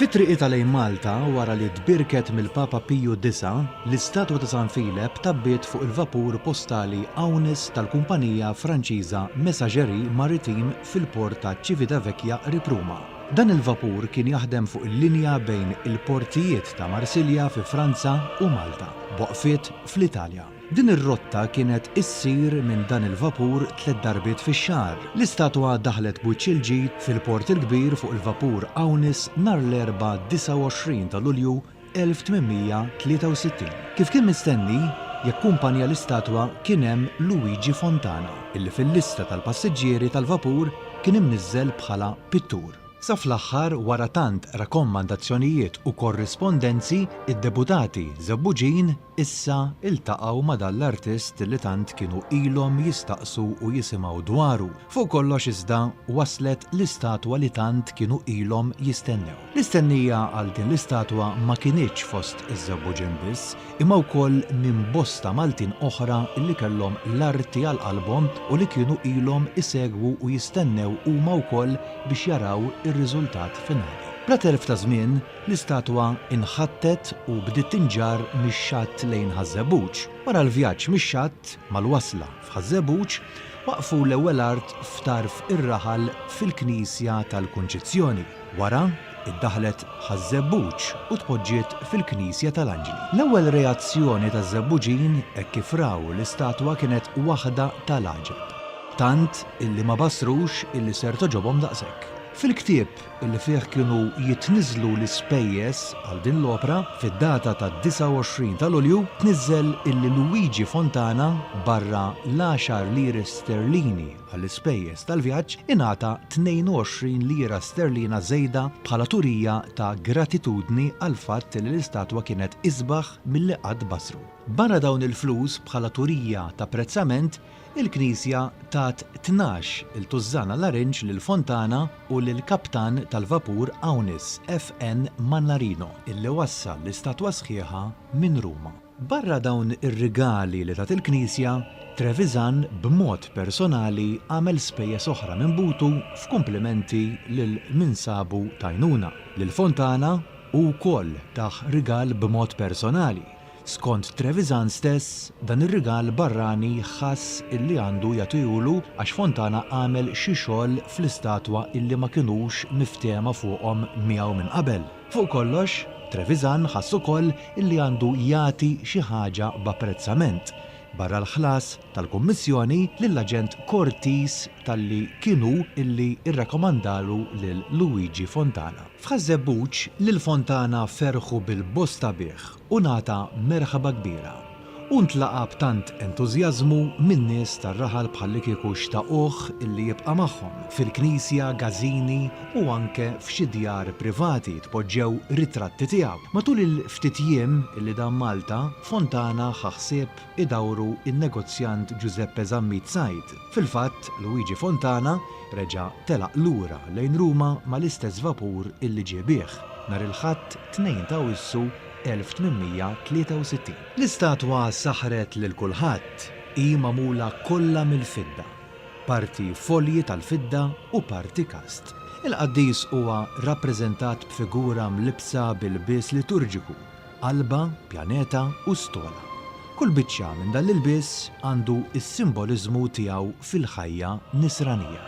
Fi triqitha lejn Malta, wara li tbierket mill-Papa Piju Disa', l-istatwa ta' San Filep tgħabbiet fuq il-vapur postali Aunis tal-kumpanija Franċiża Messageries Maritimes fil-port ta' Civitavecchia qrib Ruma. Dan il-vapur kien jaħdem fuq il-linja bejn il-portijiet ta' Marsilja fi Franza u Malta, b'waqfiet fl-Italja. Din ir-rotta kienet issir minn dan il-vapur tliet darbiet fix-xahar. L-istatwa daħlet b'wiċċ il-ġid fil-Port il-Kbir fuq il-vapur Aunis nhar l-Erbgħa 29 ta' Lulju 1863. Kif kien mistenni, jakkumpanja l-istatwa kien hemm Luigi Fontana, illi fil-lista tal-passiġġieri tal-vapur kien imniżżel bħala pittur. Sa fl-aħħar, wara tant rakommandazzjonijiet u korrispondenzi, id-Deputati Żebbuġin Issa iltaqgħu ma' dan l-artist li tant kienu ilhom jistaqsu u jisimgħu dwaru. Fuq kollox iżda, waslet l-istatwa li tant kienu ilhom jistennew. L-istennija għal din l-istatwa ma kinitx fost iż-Żewbuġin biss, imma wkoll minn bosta Maltin oħra li kellhom l-arti għal qalbhom u li kienu ilhom isegwu u jistennew huma wkoll biex jaraw ir-riżultat finali. Bla telf ta' żmien, L-istatwa nħattet u bdiet tinġarr mix-xatt lejn Ħaż-Żebbuġ. Wara l-vjaġġ mix-xatt, mal-wasla f'Ħaż-Żebbuġ, waqqfu l-ewwel art f'tarf ir-raħal fil-knisja tal-Kunċizzjoni. Wara, iddaħħlet Ħaż-Żebbuġ u tpoġġiet fil-knisja tal-Anġli. L-ewwel reazzjoni taż-Żebbuġin hekk kif raw l-istatwa kienet waħda ta' l-għaġeb. Tant illi ma bassrux illi ser togħġobhom daqshekk. Fil-ktieb li fih kienu jitniżżlu l-ispejjeż għal din l-opra, fid-data tad-29 ta' Lulju, tniżżel illi Luigi Fontana, barra l-għaxar liri sterlini għall-ispejjeż tal-vjaġġ, ingħata 22 lira sterlina żejda bħala turija ta' gratitudni għall-fatt li l-istatwa kienet isbaħ milli qatt bassru. Barra dawn il-flus bħala turija t'apprezzament, Il-Knisja tat tnax il tużżana larinġ lil Fontana u lill-kaptan tal-vapur Aunis FN. Mannarino, illi wassal l-istatwa sħiħa minn Ruma. Barra dawn ir-rigali li tat il-Knisja, Trevisan b'mod personali għamel spejjeż oħra minn butu f'kumplimenti lil min sabu t'għajnuna. Lil Fontana, hu wkoll tah rigal b'mod personali, Skont Trevisan stess, dan ir-rigal barrani ħass illi għandu jagħtihulu għax Fontana għamel xi xogħol fl-istatwa illi ma kinux miftehma fuqhom miegħu minn qabel. Fuq kollox, Trevisan ħass ukoll illi għandu jagħti xi ħaġa b'apprezzament, barra l-ħlas tal-kummissjoni lill-aġent Cortis talli kien hu illi rrakomandalu lil Luigi Fontana. F'Ħaż-Żebbuġ, lil Fontana ferħu bil-bosta bih u ngħata merħba kbira, u ntlaqa' b'tant entużjażmu min-nies tar-raħal bħallikieku xtaquh illi jibqa' magħhom, fil-knisja, gażini u anke f'xi djar privati tpoġġew ritratti tiegħu. Matul il-ftit jiem illi dam Malta, Fontana ħa ħsieb idawru n-negozjant Ġużeppe Zammit Said, Fil-fatt, Luigi Fontana reġa' telaq lura lejn Ruma mal-istess vapur illi ġie bih, nhar il-Ħadd 2 ta' Awwissu 1863. L-istatwa saħħret lil kulħadd, hi magħmula kollha mill-fidda, parti folji tal-fidda u parti kast. Il-qaddis huwa rappreżentat b'figura mlibbsa bi lbies liturġiku qalba, pjaneta u stola. Kull biċċa minn dan l-ilbies għandu s-simboliżmu tiegħu fil-ħajja Nisranija.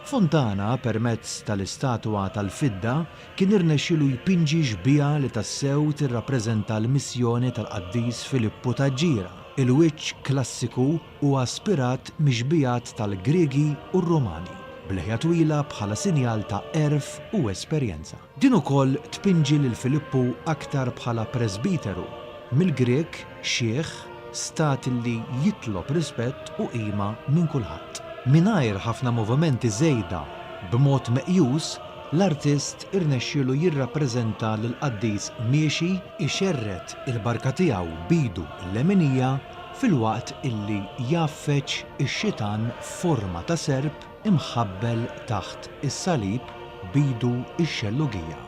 Fontana permezz tal-istatwa tal-fidda kien irnexxielu jpinġi xbieha li tassew tirrappreżenta l-missjoni tal-Qaddis Filippu ta' Ġira, il-wiċċ klassiku, Huwa ispirat mix-xbigħat tal-Griegi u r-Romani, b'leħja twila bħala sinjal ta' għerf u esperjenza. Din ukoll tpinġi lil Filippu aktar bħala presbiteru, mill-Grieg xiħ, stat li jitlob rispett u qima minn kulħadd. Mingħajr ħafna movimenti żejda, b'mod meqjus, l-artist irnexxielu jirrappreżenta lill-qaddis miexi jxerred il-barka tiegħu b'idu l-leminija filwaqt illi jgħaffeġ ix-Xitan f'forma ta' serp imħabbel taħt is-salib b'idu x-xellugija.